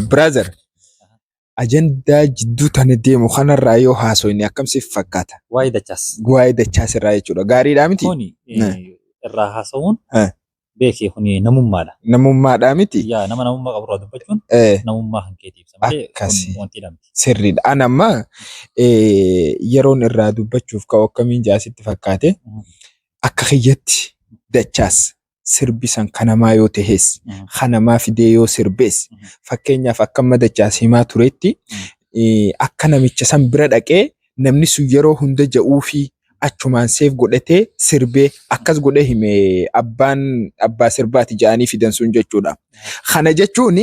Brother, ajandaa jidduu tana deemu kanarraa yoo haasofne akkam siif fakkaata? Waa'ee dachaas. Waa'ee dachaas irraa jechuudha. Gaariidhaa miti? Kuni eh, irraa haasa'uun Eh. beekee kuni namummaadha. Namummaadhaa miti? Yaa nama namummaa qabu irraa dubbachuun Eh, namummaa kan keetii ibsa malee Akkasi. kun wanti dhamti. sirriidha. An amma eh, yeroon irraa dubbachuuf ka'u akkamiin jaasitti fakkaate Mhm. akka kiyyatti dachaas sirbi san ka namaa yoo tahes, ka namaa fidee yoo sirbes, fakkeenyaaf akka amma Dachaas himaa turetti, akka namicha san bira dhaqee namni sun yeroo hunda ja'uufii achumaan seef godhatee sirbee akkas godhee hime abbaan abbaa sirbaati ja'anii fidan sun jechuudha. Kana jechuun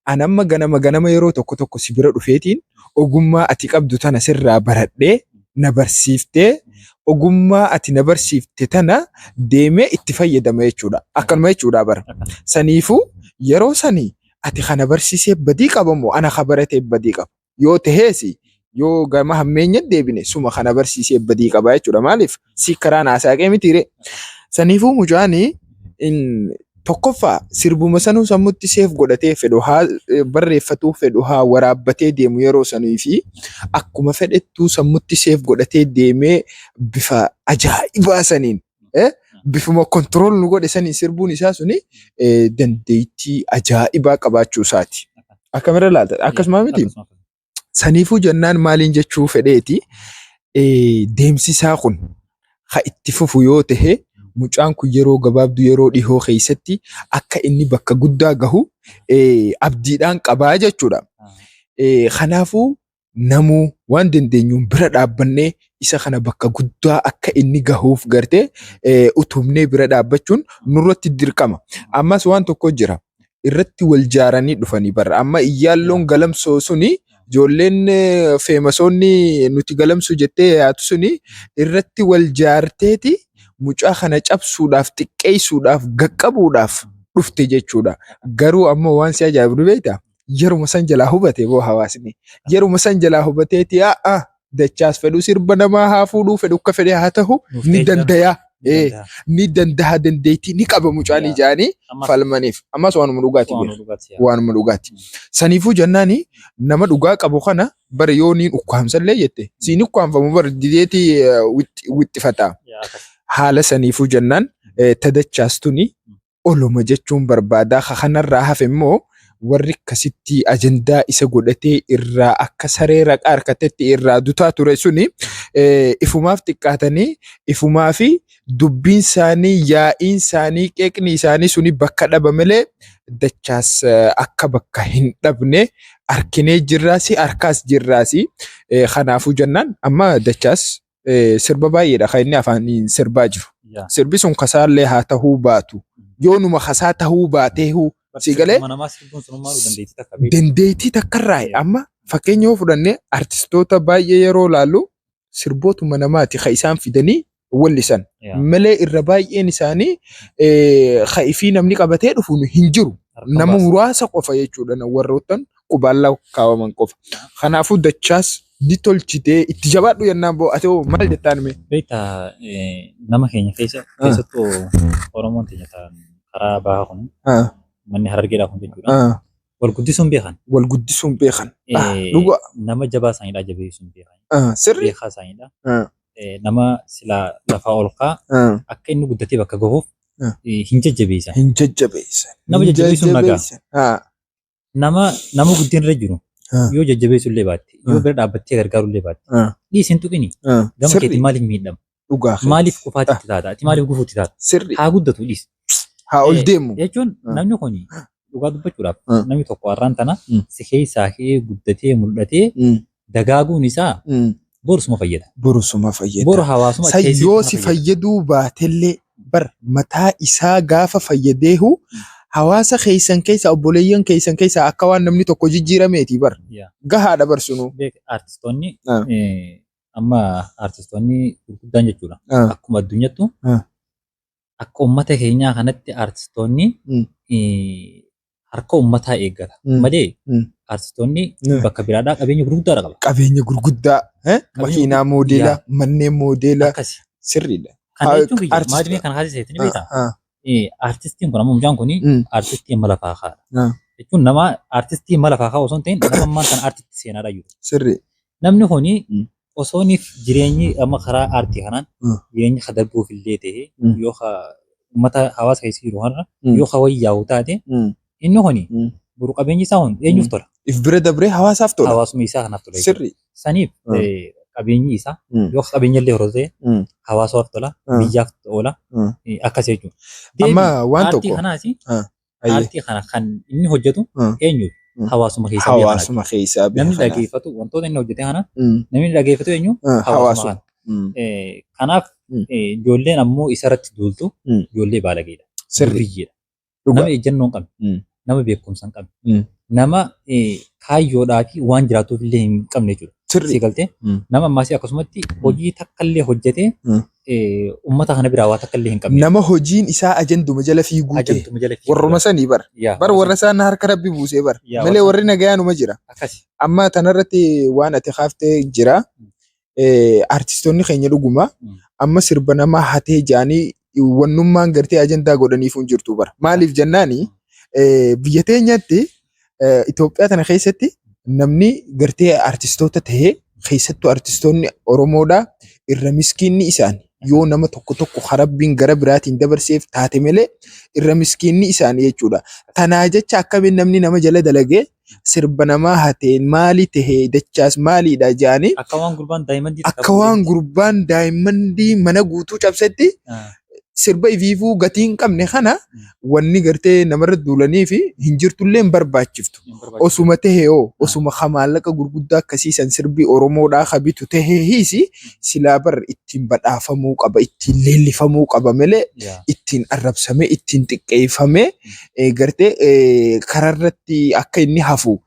an amma ganama ganama yeroo tokko tokko si bira dhufeetiin ogummaa ati qabdu tana sirraa baradhee na barsiiftee ogummaa ati na barsiifte tana deemee itti fayyadama jechuudha. Akkanuma jechuudha bara. Saniifuu yeroo sani ati kana barsiisee badii qaba moo ana ka baratee badii qaba? Yoo taheesi yoo gama hammeenya deebine suma kana barsiisee badii qaba jechuudha. Maaliif si karaan haasaaqee mitiiree? Saniifuu mucaani in Tokkoffaa, sirbuma sanuu sammutti seef godhatee fedhu haa barreeffatuu, fedhu haa waraabbatee deemu yeroo sanii fi akkuma fedhettuu sammutti seef godhatee deemee bifa ajaa'ibaa saniin eh, bifuma kontirool nu godhe saniin sirbuun isaa suni eh, dandeettii ajaa'ibaa qabaachuu isaati. Akkamirra laalta? Akkasuma miti? Saniifuu jennaan maaliin jechuu fedheeti deemsisaa kun ha itti fufu yoo ta'e mucaan kun yeroo gabaabdu yeroo dhihoo keessatti akka inni bakka guddaa gahu abdiidhaan qabaa jechuudha. Kanaafuu namuu waan dandeenyuun bira dhaabbannee isa kana bakka guddaa akka inni gahuuf gartee utubnee bira dhaabbachuun nurratti dirqama. Ammas waan tokko jira. irratti wal jaaranii dhufanii bara amma iyyaalloon galamsoo suni ijoolleen eh, feemasoonni nuti galamsuu jettee yaatu suni irratti wal jaarteeti mucaa kana cabsuudhaaf xiqqeessuudhaaf gaqqabuudhaaf dhufte jechuudha garuu ammoo waan si ajaa'ibu ni beektaa yeruma san jalaa hubate boo hawaasni yeruma san jalaa hubateeti yaa dachaas fedhu sirba namaa haa fuudhuu fedhu akka fedhe haa tahu Nuuf ni ta'e dandayaa Ni Eh, danda'a. ni dandaha dandeettii ni qaba mucaan Yaa. ijaanii Ammas falmaniif ammas waanuma dhugaati waan beeku. dhugaati yaa. waanuma dhugaati. Saniifuu jennaani nama dhugaa qabu kana bara yoo niin ukkaamsallee jette siin ukkaamfamu bara dideeti wixxifata. Yaa, akkas. Haala saniifuu jennaan eh, tadachaas tuni oluma jechuun barbaada. Ka kanarraa hafe immoo warri akkasitti ajandaa isa godhatee irraa akka saree raqaa harkatetti irraa dutaa ture suni eh, ifumaaf xiqqaatanii ifumaa fi dubbiin isaanii yaa'iin isaanii qeeqni isaanii suni bakka dhaba malee dachaas eh, akka bakka hin dhabne arkinee jirraasi harkaas jirraasi Eh, kanaafuu jennaan amma dachaas eh, sirba baay'eedha kan inni afaaniin sirbaa jiru. Yaa. Sirbi sun kasaallee haa tahuu baatu. Yoo numa kasaa tahuu baateehu si galee Mana namaa sirbuun sun maaluu dandeettii takka beeku. dandeettii takkarraa amma fakkeenya yoo fudhanne artistoota baay'ee yeroo laallu sirbootuma namaati kan isaan fidanii wallisan Yaa. malee irra baay'een isaanii eh, kan ifii namni qabatee dhufu hin jiru. Harka Nama baasa. muraasa qofa jechuudha na- warroottan qubaallaa kaa'aman qofa. Kanaafuu dachaas ni tolchite itti jabaadhu jennaan boo ati hoo maal jettaan mee? Beekta eh, nama keenya keessa Ah. keessattuu Oromoon keenya ta'an karaa bahaa kun Ah, manni harargeedhaa kun jechuudha. ah, Wal guddisuun beekan. Wal guddisuun beekan. Ah, Eh, Dhugaa. Nama jabaa isaaniidhaa jabeessuun beekan. Ah, Sirri. Beekaa isaaniidha. Ah. Eh, Nama silaa lafaa ol kaa Ah, akka inni guddatee bakka gahuuf Ah. eh, hin jajjabeessan. Hin jajjabeessan. Nama Hin jajjabeessuun nagaa. jajjabeessan. Ah, Nama nama guddina irra jiru Ah. yoo jajjabeessu illee baatte yoo Ah. bira dhaabbattee gargaaru illee baatte Ah. dhiisi hin tuqini Ah. gama Sirrii. keetiin maaliif miidhama Dhugaa kee. maaliif qufaatti itti taata ati maaliif gufuutti taata Sirrii. haa guddatu dhiisi Haa ol Eh, deemu. jechuun Ah. namni kun dhugaa dubbachuudhaaf Ah. namni tokko har'aan tana Mm. si keessaa ka'ee guddatee mul'atee Mm. dagaaguun isaa Mm. borusuma fayyada. Borusuma fayyada. Boru hawaasuma San keessatti yoo nama si fayyada. fayyaduu baatellee bar mataa isaa gaafa fayyadeehu hawaasa keessan keessa obboleeyyan keessan keessa akka waan namni tokko jijjiirameeti bar Yaa. gahaadha bar sunu. Beek artistoonni Ah. eh, amma artistoonni gurguddaan jechuudha. Ah. Akkuma addunyattu Ah. akka ummata keenyaa kanatti artistoonni Mm. eh, harka ummataa eeggata Mm. malee Mm. artistoonni Mm. bakka biraadhaa qabeenya gurguddaadha qaba. qabeenya gurguddaa eh? makiinaa gurguddaa. moodeela manneen moodeela Akkasi. sirriidha Kana Ah, jechuun biyya artist- maadimee kana haasisa jettanii beektaa? Ah, ah, Eh, Artistiin kun amma mucaan kun mm, artistii amma lafaa kaa'aadha. Ah. Jechuun nama artistii amma lafaa kaa'u osoo hin ta'in nama ammaan kana artisti seenaadha jiru. sirri Namni kun Mm. osoo inni jireenyi amma karaa aartii kanaan Mm. jireenyi ka darbuuf illee ta'e Mm. yoo ka uummata hawaasa keessa jiru kanarra Mm. yoo ka wayyaa'u taate Mm. inni kun Mm. boru qabeenyi isaa kun eenyuuf Mm. tola? If bira dabree hawaasaaf tola. Hawaasummaa isaa kanaaf tola. jechuudha. Sirri. Saniif Mm. eh, qabeenyi isaa Mm. yoo qabeenya illee horatu ta'e Mm. hawaasaaf tola, Mm. biyyaaf oola Mm. eh, akkas jechuudha. Amma waan Aartii tokko. kanaas Ah. Hayyee. Aartii kana kan inni hojjetu Mm. eenyuuf? Mm. Hawaasuma keessa biyya kanaati. Hawaasuma keessaa biyya Namni kanaaf. dhageeffatu wantoota inni hojjete kana Mm. namni dhageeffatu eenyu? Ah, Hawaasuma Hawaasuma. kana. Mm. Eh, Kanaaf Mm. eh, ijoolleen ammoo isarratti duultu Mm. ijoollee baalageedha. Sirrii. Durriyyeedha. Dhugaa. Nama ejjennoo hin qabne. Mm. Nama beekumsa hin qabne. Mm. Nama eh, kaayyoodhaa fi waan jiraatuuf illee hin qabne jechuudha. Sirrii. Sii galtee Mm. nama ammaasii akkasumatti hojii takka illee hojjetee Mm. ummata kana biraa waa takka illee hin qabne. Nama hojiin isaa ajanduma jala fiiguu ta'e. Ajantuma jala fiiguu Warruma sanii bar. Yaa, Bar warra warra sana harka rabbi buusee bar. Yaa, Malee warra- warri nagayaanuma jira. Akkasi. Amma tanarratti waan ati kaaftee jira. Eh, Artistoonni keenya dhuguma Mm. amma sirba namaa hatee jaanii wannummaan gartee ajandaa godhaniif hin jirtu bara. Maaliif jennaani eh, biyya teenyatti Itoophiyaa tana keessatti namni gartee artistoota ta'ee keessattuu artistoonni Oromoodhaa irra miskiinni isaan yoo nama tokko tokko ka rabbiin gara biraatiin dabarseef taate malee irra miskiinni isaan jechuudha. Tanaa jecha akkamiin namni nama jala dalagee sirba namaa hatee maali ta'ee dachaas maaliidha jedhanii Akka waan gurbaan daayimandii akka waan gurbaan daayimmandii mana guutuu cabsetti sirba ifiifuu gatii hin qabne kana wanni gartee namarra duulanii fi hin jirtullee hin barbaachiftu. Osuma tahe hoo osuma ka maallaqa gurguddaa akkasii san sirbi Oromoodhaa ka bitu tahee hiisi silaa bar ittiin badhaafamuu qaba ittiin leellifamuu qaba malee ittiin arrabsamee ittiin xiqqeeffamee eh, gartee eh, kararratti akka inni hafu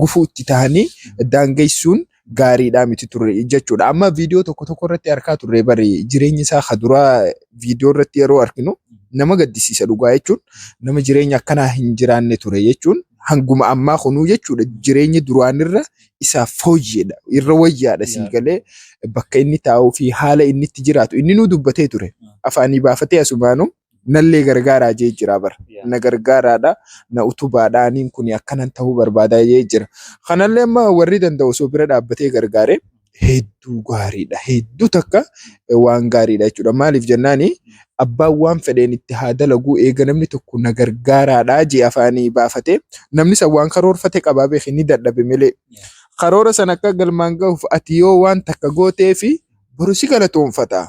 gufuu itti tahanii daangeessuun gaariidhaa miti ture jechuudha. Amma viidiyoo tokko tokko irratti arkaa turre bari jireenya isaa ka duraa viidiyoo irratti yeroo arkinu nama gaddisiisa dhugaa jechuun nama jireenya akkanaa hin jiraanne ture jechuun hanguma ammaa kunuu jechuudha jireenyi duraanirra isaaf fooyyeedha irra wayyaadha sii Yeah. galee bakka inni taa'uu fi haala inni itti jiraatu inni nuu dubbatee ture afaanii baafatee asumaanuu nallee gargaaraa jee jira bar Yeah. na gargaaraadha na utubaadha aniin kun akkanan ta'uu barbaada jee jira kanallee amma warri danda'u osoo bira dhaabbatee gargaare hedduu gaariidha hedduu takka eh, waan gaariidha jechuudha maaliif jennaani abbaan waan fedheen itti haa dalaguu eega namni tokko na gargaaraadha jee afaanii baafate namni san waan karoorfate qabaa beeki ni dadhabe malee karoora san akka galmaan gahuuf ati yoo waan takka gootee fi boru si galatoonfata.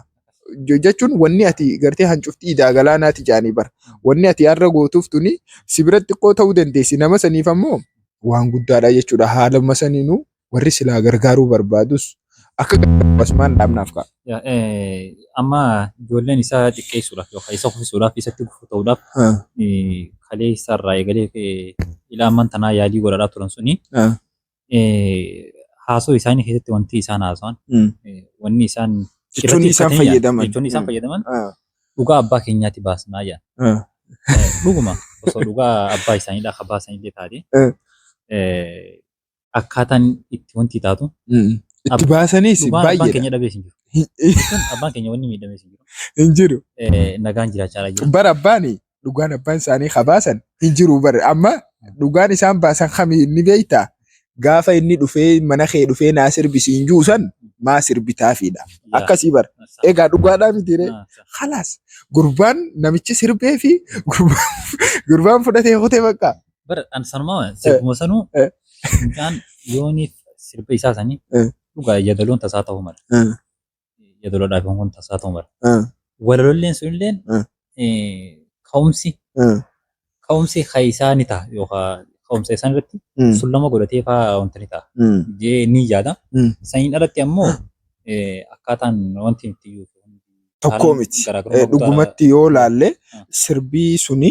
jechuun wanni ati gartee hancuftii idaa galaanaati jaanii bara. Wanni ati har'a gootuuf tuni si bira xiqqoo ta'uu dandeessi. Nama saniif ammoo waan guddaadha jechuudha. Haaluma saniinuu warri silaa gargaaruu barbaadus akka gargaaru asumaan dhaabnaaf ka'a. Ya- eh, amma ijoolleen isaa xiqqeessuudhaaf yookaan isa kuffisuudhaaf isatti gufuu ta'uudhaaf Ah, eh, kalee isaarraa eegalee eh, ilaa amman tanaa yaalii godhaadhaa turan suni ah, haasoo isaanii keessatti wanti isaan haasawan wanni isaan jechoonni isaan fayyadaman jechoonni isaan fayyadaman dhugaa abbaa keenyaatti baasnaa jedhan. Dhuguma osoo dhugaa abbaa isaaniidhaa akka baasanillee taate akkaataan itti wanti taatu itti baasaniis dhugaan abbaan baay'eedha. keenya dhabees hin jiru. Jechuun abbaan keenya wanni miidhamees hin jiru. Hin jiru. Nagaan jiraachaa jira. Bara abbaani dhugaan abbaan isaanii kabaasan hin jiru bar amma dhugaan isaan baasan kami inni beektaa gaafa inni dhufee mana kee dhufee naa sirbisii hin juusan maa sirbitaafiidha akkasii bar egaa dhugaadhaa mitiiree halaas gurbaan namichi sirbee fi gurbaan fudhatee kutee bakka. Bar an sanuma sirbuma sanuu mucaan yooniif sirba isaa sanii dhugaa jadaloon tasaa ta'uu mala. yadoloodhaaf yoon kun tasaa ta'u mala. Ah, Walalolleen sunilleen ah, eh, ka'umsi ah. ka'umsi keessaa ni ta'a yookaan ka'umsa isaan irratti Mm, sullama godhatee fa'aa wanta ni ta'a mm, jee ni yaada. mm. Saniin alatti ammoo eh, akkaataan wanti nuti iyyuu Tokkoo miti. Eh, Dhugumatti yoo laalle Ah. sirbii suni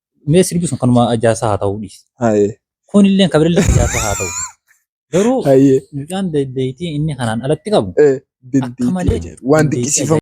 Mee sirbi sun kanuma ijaarsa haa ta'uu dhiisi. Haye. Kunillee kan birallee ijaarsa haa ta'u. Garuu Haye. mucaan dandeettii inni kanaan alatti qabu Eh, Akka malee dandeettii ajaa'ibaa. Waan dandeettii dinqisiifamu.